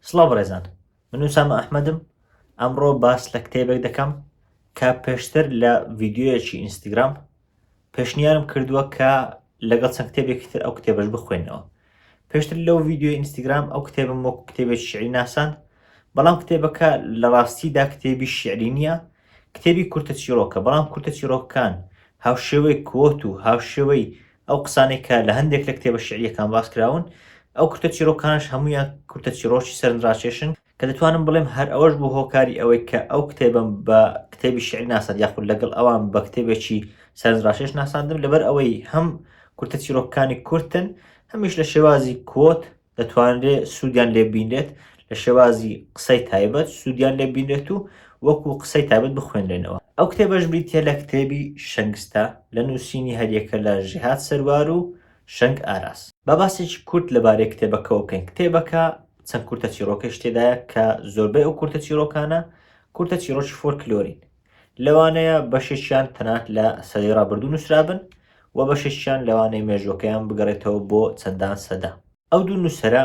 سڵاو بەڕێزان من نووسامە ئەحمەدم ئەمڕۆ باس لە کتێبێک دەکەم کە پێشتر لە ڤیددیوەکی ئینستاگرام پێشنیارم کردووە کە لەگەڵ چەند کتێبێکی تر ئەو کتێبەش بخوێنەوە پێشتر لەو ڤیدیۆی ئینستاگرام ئەو کتێبم وەکو کتێبێکی شعری ناساند بەڵام کتێبەکە لە ڕاستیدا کتێبی شعری نییە کتێبی کورتە چیرۆکە بەڵام کورتە چیرۆکەکان هاوشێوەی کۆت و هاوشێوەی ئەو قسانێک کە لە هەندێک لە کتێبە شعریەکان باس کراون ئەو کورتە چیرۆکانش هەمویان کورتە چیرۆکی سەرنجڕاکێشن کە دەتوانم بڵێم هەر ئەوەش بوو هۆکاری ئەوەی کە ئەو کتێبم بە کتێبی شعر ناسەند یاخود لەگەڵ ئەوان بە کتێبێکی سەرنجڕاکێش ناساندم لەبەر ئەوەی هەم کورتە چیرۆکەکانی کورتن هەمیش لە شێوازی کۆت دەتوانرێ سوودیان لێ بینرێت لە شێوازی قسەی تایبەت سوودیان لێ بینرێت و وەکو قسەی تابەت بخوێنرێنەوە ئەو کتێبەش بریتە لە کتێبی شەنگستە لە نووسینی هەریەکە لە ژیهات سەروار و شەنگ ئاراس با باسێکی کورت لەبارەی کتێبەکەەوە بکەین کتێبەکە چەند کورتە چیرۆکەش تێدایە کە زۆربەی ئەو کورتە چیرۆکانە کورتە چیرۆکی فۆرکلۆرین لەوانەیە بەشێکیان تەنات لە سەدەی ڕابردوو نووسرابن و بەشێکیان لەوانەیە مێژوەکەیان بگەڕێتەوە بۆ چەندان سەدا ئەو دوو نووسرە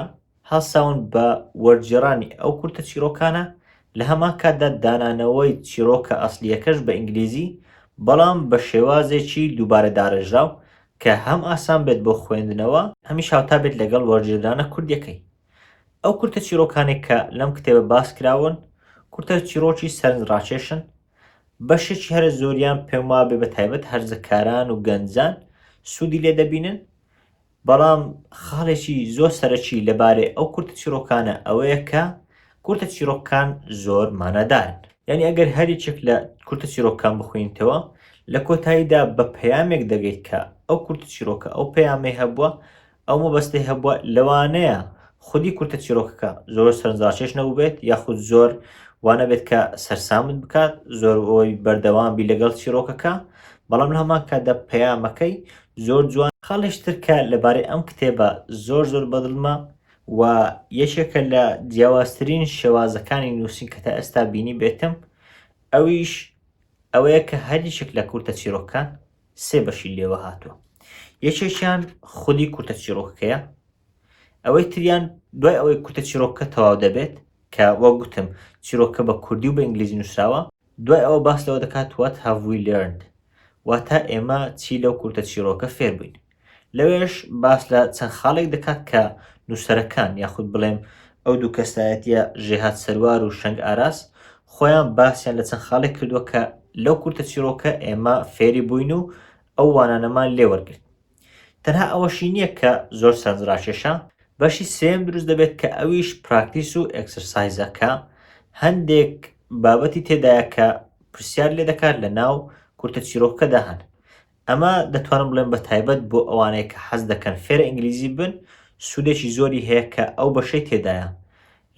هەستاون بە وەرجێڕانی ئەو کورتە چیرۆکانە لە هەمان کاتدا دانانەوەی چیرۆکە ئەسلیەکەش بە ئینگلیزی بەڵام بە شێوازێکی دووبارە دارێژراو کە هەم ئاسان بێت بۆ خوێندنەوە، هەمیش هاوتا بێت لەگەڵ وەرگێردانە کوردییەکەی. ئەو کورتە چیڕۆکانەی کە لەم کتێبە باس کراون، کورتە چیڕۆکی سەرنجڕاکێشن، بەشێکی هەرە زۆریان پێم وابێ بە تایبەت هەرزەکاران و گەنجان سوودی لێ دەبینن، بەڵام خاڵێکی زۆر سەرەکی لەبارەی ئەو کورتە چیڕۆکانە ئەوەیە کە کورتە چیرۆککان زۆر مانا دارن یانی ئەگەر هەر یەکێک لە کورتە چیرۆککان بخوینیتەوە لە کۆتاییدا بە پەیامێک دەگەیت کە ئەو کورتە چیرۆکە ئەو پەیامەی هەبووە ئەو مەبەستەی هەبووە لەوانەیە خودی کورتە چیرۆکەکە زۆر سەرنجڕاکێش نەبووبێت یاخود زۆر وانە بێت کە سەرسامت بکات زۆر ئەوەی بەردەوام بی لەگەڵ چیرۆکەکە بەڵام لە هەمان کاتدا پەیامەکەی زۆر جوان خاڵیشتر کە لەبارەی ئەم کتێبە زۆر زۆر بەدڵمە و یەکێکە لە جیاوازترین شێوازەکانی نووسین کە تا ئێستا بینی بێتم ئەویش ئەوەیە کە هەریشێک لە کورتە چیرۆکەکان سێ بەشی لێوە هاتووە یەکێکیان خودی کورتە چیرۆکەکەیە ئەوەی تریان دوای ئەوەی کورتە چیرۆکە تەواو دەبێت کە وە گوتم چیرۆکە بە کوردی و بە ئینگلیزی نووسراوە دوای ئەوە باس لەوە دەکات وات هاوی لرند واتا ئێمە چی لەو کورتە چیرۆکە فێربووین لەوێش باس لە چەند خاڵێک دەکات کە نووسەرەکان یاخود بڵێم ئەو دوو کەسایەتیە ژێهات سەروار و شەنگ ئاراس خۆیان باسیان لە چەند خاڵێک کردووە کە لەو کورتە چیرۆکە ئێمە فێری بووین و ئەو وانانەمان لێ وەرگرت تەنها ئەوەشی نییە کە زۆر سەرنج ڕاکێشە بەشی سێم دروست دەبێت کە ئەویش پراکتیس و ئەکسەرسایزە کە هەندێک بابەتی تێدایە کە پرسیار لێ دەکات لە ناو کورتە چیرۆکەدا هەن ئەمە دەتوانم بڵێم بە تایبەت بۆ ئەوانەی کە حەز دەکەن فێرە ئینگلیزی ببن سوودێکی زۆری هەیە کە ئەو بەشەی تێدایە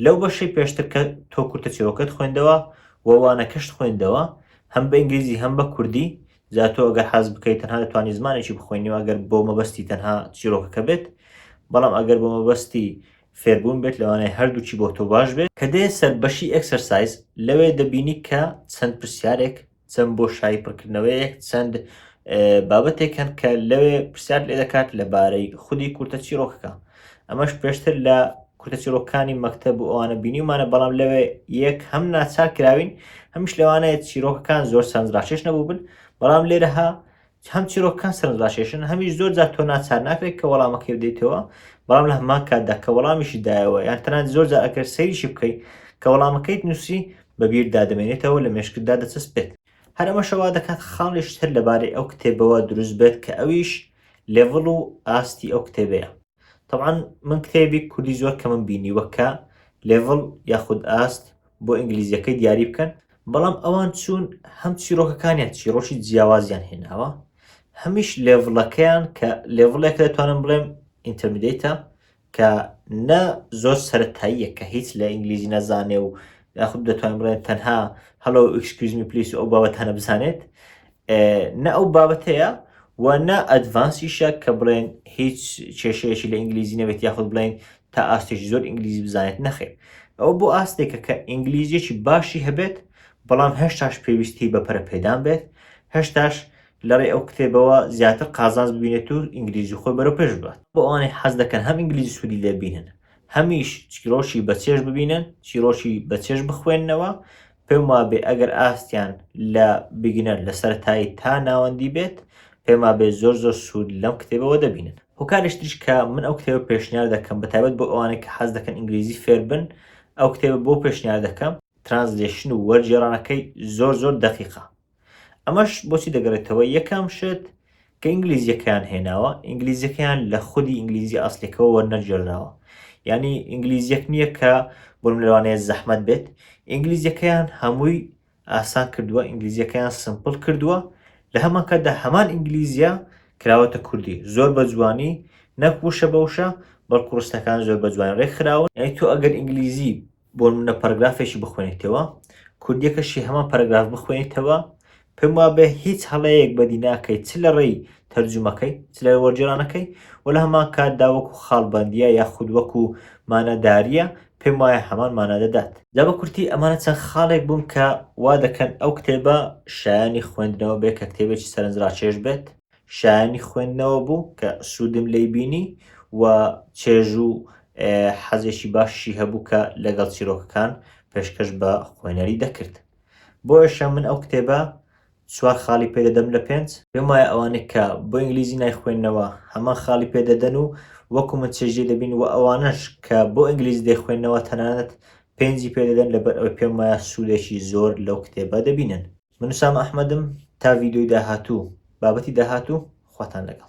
لەو بەشەی پێشتر کە تۆ کورتە چیرۆکەت خوێندەوە و وانەکەشت خوێندەوە هەم بە ئینگلیزی هەم بە کوردی جا تۆ ئەگەر حەز بکەیت تەنها دەتوانانی زمانێکی بخوێنی و ئەگەر بۆ مەبەستی تەنها چیرۆکەکە بێت بەڵام ئەگەر بۆ مەبەستی فێربوون بێت لەوانەیە هەردووکی بۆ تۆ باش بێت کە دێ سەر بەشی ئێکسەرسایز لەوێ دەبینی کە چەند پرسیارێک چەند بۆشایی پڕکردنەوەیەک چەند بابەتێک هەن کە لەوێ پرسیار لێ دەکات لەبارەی خودی کورتە چیرۆکەکە ئەمەش پێشتر لە کورتە چیرۆکانی مەکتب و ئەوانە بینیمانە بەڵام لەوێ یەک هەم ناچار کراوین هەمیش لەوانەیە چیرۆکەکان زۆر سەنجڕاکێش نەبوو بن بەڵام لێرەها هەم چیرۆکەکان سەرنجڕاکێشن، هەمیش زۆر جار تۆ ناچار ناکرێت کە وەڵامەکەی بدەیتەوە، بەڵام لە هەمان کاتدا کە وەڵامیشی دایەوە، یان تەنانەت زۆر جار ئەگەر سەیریشی بکەیت کە وەڵامەکەیت نووسی، بە بیرتدا دەمێنێتەوە و لە مێشکتدا دەچەسپێت. هەر ئەمەشە وا دەکات خاڵی شتر لەبارەی ئەو کتێبەوە دروست بێت کە ئەویش لێڤڵ و ئاستی ئەو کتێبەیە. تەبعەن من کتێبی کوردی زۆر کەمم بینیوە کە لێڤڵ یاخود ئاست بۆ ئینگلیزیەکەی دیاری بکەن بەڵام ئەوان چوون هەم چیرۆکەکانیان چیرۆکی جیاوازیان هێناوە هەمیش لێڤڵەکەیان کە لێڤڵێک دەتوانم بڵێم ئینتەرمیدەیتە کە نە زۆر سەرەتاییە کە هیچ لە ئینگلیزی نەزانێ و یاخود دەتوانین بڵێن تەنها هەڵۆ ئکسکوزمی پلیس ئەو بابەتانە بزانێت نە ئەو بابەتەیە و نە ئەدڤانسیشە کە بڵێن هیچ کێشەیەکی لە ئینگلیزی نەبێت یاخود بڵین تا ئاستێکی زۆر ئینگلیزی بزانێت نەخێ ئەو بۆ ئاستێکە کە ئینگلیزیەکی باشی هەبێت بەڵام هەشتاش پێویستی بە پەرە پێدان بێت هەشتاش لەڕێ ئەو کتێبەوە زیاتر قازانز ببینێت و ئینگلیزی خۆی بەرەو پێش بات بۆ ئەوانەی حەز دەکەن هەم ئینگلیزی سوودی لێبینن هەمیش چیرۆکی بەچێش ببینن چیرۆکی بەچێش بخوێندنەوە پێم وابێ ئەگەر ئاستیان لە بیگنەر لە سەرەتایی تا ناوەندی بێت پێم وابێ زۆر زۆر سوود لەم کتێبەوە دەبینن هۆکارش تریش کە من ئەو کتێبە پێشنیار دەکەم بە تایبەت بۆ ئەوانەی کە حەز دەکەن ئینگلیزی فێر بن ئەو کتێبە بۆ پێشنیار دەکەم ترانزلێشن و وەرگێڕانەکەی زۆر زۆر دەقیقە ئەمەش بۆچی دەگەڕێتەوە یەکەم شت کە ئینگلیزیەکەیان هێناوە ئینگلیزیەکەیان لە خودی ئینگلیزی ئاسلێکەوە وەرنەجێراوە ینی ئینگلیزیەک نییە کە بۆم لەوانەیە زەحمت بێت ئینگلیزیەکەیان هەمووی ئاسان کردووە ئینگلیزیەکەیان سمپل کردووە لە هەمانکەدا هەمان ئینگلیزیە کراوەتە کوردی زۆر بە جوانی نەک وشە بەوشە بەڵکوڕستەکان زۆر بە جوان ڕێکخراون ئەی تۆ ئەگەر ئینگلیزی بۆنمونە پەرگرافێکی بخوێنیتەوە کوردیەکەشی هەمان پەرگراف بخوێنیتەوە پێم وابێ هیچ هەڵەیەک بەدی ناکەیت چ لە ڕێی تەرجومەکەی چ لە وەرجێرانەکەی و لە هەمان کاتدا وەکو خاڵبندیە یا خود وەکو ماناداریە پێم وایە هەمان مانا دەدات جا بە کورتی ئەمانە چەند خاڵێک بوون کە وا دەکەن ئەو کتێبە شایانی خوێندنەوە بێ کە کتێبێکی سەرنجڕاکێش بێت شایەنی خوێندنەوە بوو کە سوودم لێی بینی و چێژ و حەزێکی باشی هەبوو کە لەگەڵ چیرۆکەکان پێشکەش بە خوێنەری دەکرد بۆیشە من ئەو کتێبە چوار خاڵی پێدەدەم لە پێنج پێم وایە ئەوانەی کە بۆ ئینگلیزی نایخوێننەوە هەمان خاڵی پێدەدەن و وەکو من چێژی دەبین و ئەوانەش کە بۆ ئینگلیزی دەیخوێننەوە تەنانەت پێنجی پێدەدەن لەبەر ئەوەی پێم وایە سوودێکی زۆر لەو کتێبە دەبینن. من ئوسامە ئەحمەدم تا ڤیدیۆی داهاتوو بابەتی داهاتوو خواتان لەگەڵ